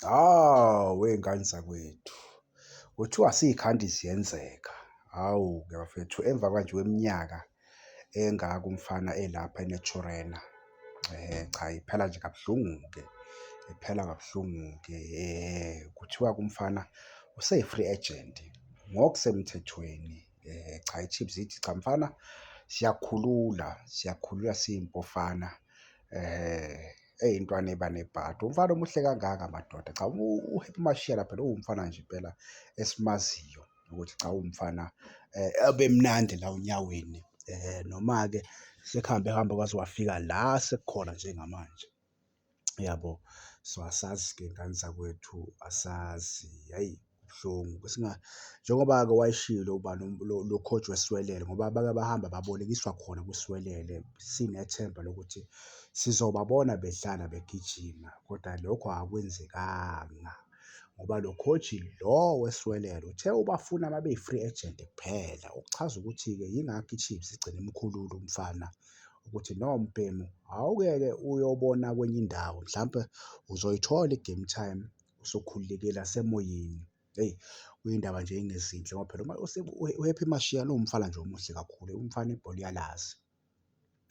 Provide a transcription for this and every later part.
Hawu wey'ngane zakwethu, kuthiwa siy'khandi ziyenzeka. Hawu-ke bafethu emva kwanje kweminyaka engaka umfana elapha eNaturena, cha iphela nje kabuhlungu-ke, iphela kabuhlungu-ke. Kuthiwa-ke umfana use-free agent ngokusemthethweni. Eh, cha iChiefs ithi cha mfana siyakhulula siyakhulula siyimpofana eh eyintwana eba nebhadi umfana omuhle kangaka madoda cha uHappy Mashiyela phela uwumfana nje impela esimaziyo ukuthi cha uwumfana eh ebemnandi la unyaweni eh noma-ke sekuhambe hambe kwaze wafika la sekukhona njengamanje. Yabo so asazi ke ngani zakwethu asazi hhayi kubuhlungu njengoba-ke wayeshilo ubani lo coach weswelele ngoba bake bahamba babolekiswa khona kwiswelele sinethemba lokuthi sizobabona bedlala begijima kodwa lokho akwenzekanga ngoba lo coach lo weswelele uthe ubafuna uma beyi-free agent kuphela. Okuchaza ukuthi-ke yingakho i-Chiefs igcine imkhulula umfana ukuthi lowo mbhemu awukeke uyobona kwenye indawo mhlampe uzoyithola i-game time usukhululekile asemoyeni. Eyi kuyindaba nje engezinhle ngoba phela uma uHappy Mashiya lo mfana nje omuhle kakhulu, umfana ibhola uyalazi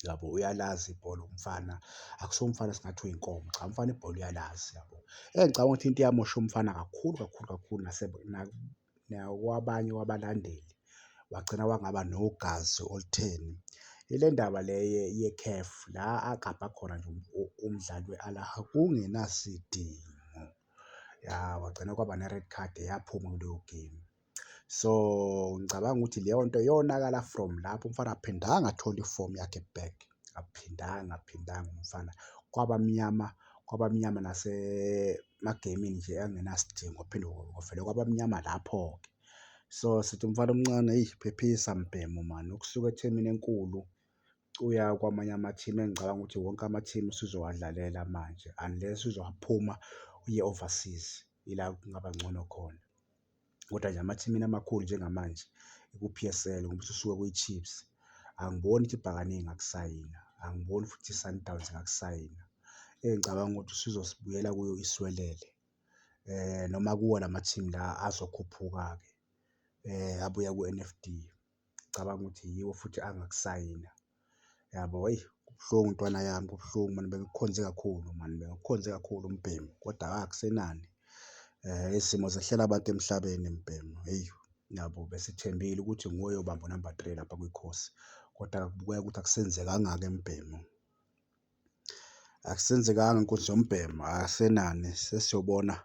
yabo, uyalazi ibhola umfana akusiwo umfana esingathi uyinkomo, cha umfana ibhola uyalazi yabo. Engicabanga ukuthi into eyamosha umfana kakhulu kakhulu kakhulu nakwabanye kwabalandeli wagcina wangaba nogazi olutheni. Ile ndaba le ye-CAF la agabha khona nje umdlali we-Al Ahly kungenasidingo, ya kwagcina kwaba ne-red card yaphuma kuleyo game. So, ngicabanga ukuthi leyo nto yonakala from lapho umfana akaphindanga athola ifomu yakhe back. akuphindanga akuphindanga umfana kwaba mnyama kwaba mnyama nasemagemini nje angenasidingo phinde kuvele kwaba mnyama lapho-ke. So sithi umfana omncane eyi phephisa mbhemu mani ukusuka ethimini enkulu uya kwamanye amathimu engicabanga ukuthi wonke amathimu usuzowadlalela manje unless uzophuma uye overseas ila kungaba ncono khona. Kodwa nje amathimini amakhulu njengamanje iku-P_S_L ngoba ususuke kwiChiefs. Angiboni ukuthi ibhakane ingakusayina, angiboni futhi iSundowns ingakusayina. Engicabanga ukuthi usuzosibuyela kuyo iswelele noma kuwona amathimu la azokhuphuka-ke abuya ku-N_F_D. ngicabanga ukuthi yiwo futhi angakusayina yabo. Eyi kubuhlungu ntwana yami kubuhlungu mani bengikukhonze kakhulu mani bengikukhonze kakhulu mbhemu kodwa akusenani izimo zehlela abantu emhlabeni mbhemu. Eyi yabo besithembile ukuthi nguwe oyobamba unamba three lapha kwikhosi kodwa kubukeka ukuthi akusenzekanga-ke mbhemu. Akusenzekanga inkundla yombhemu asenani sesiyobona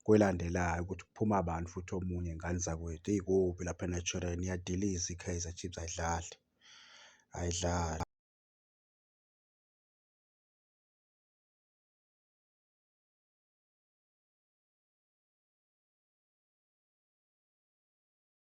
kwelandelayo ukuthi kuphuma bani futhi omunye ngane zakwethu eyi kubi lapha eNaturena iyadiliza iKaizer Chiefs ayidlali ayidlali.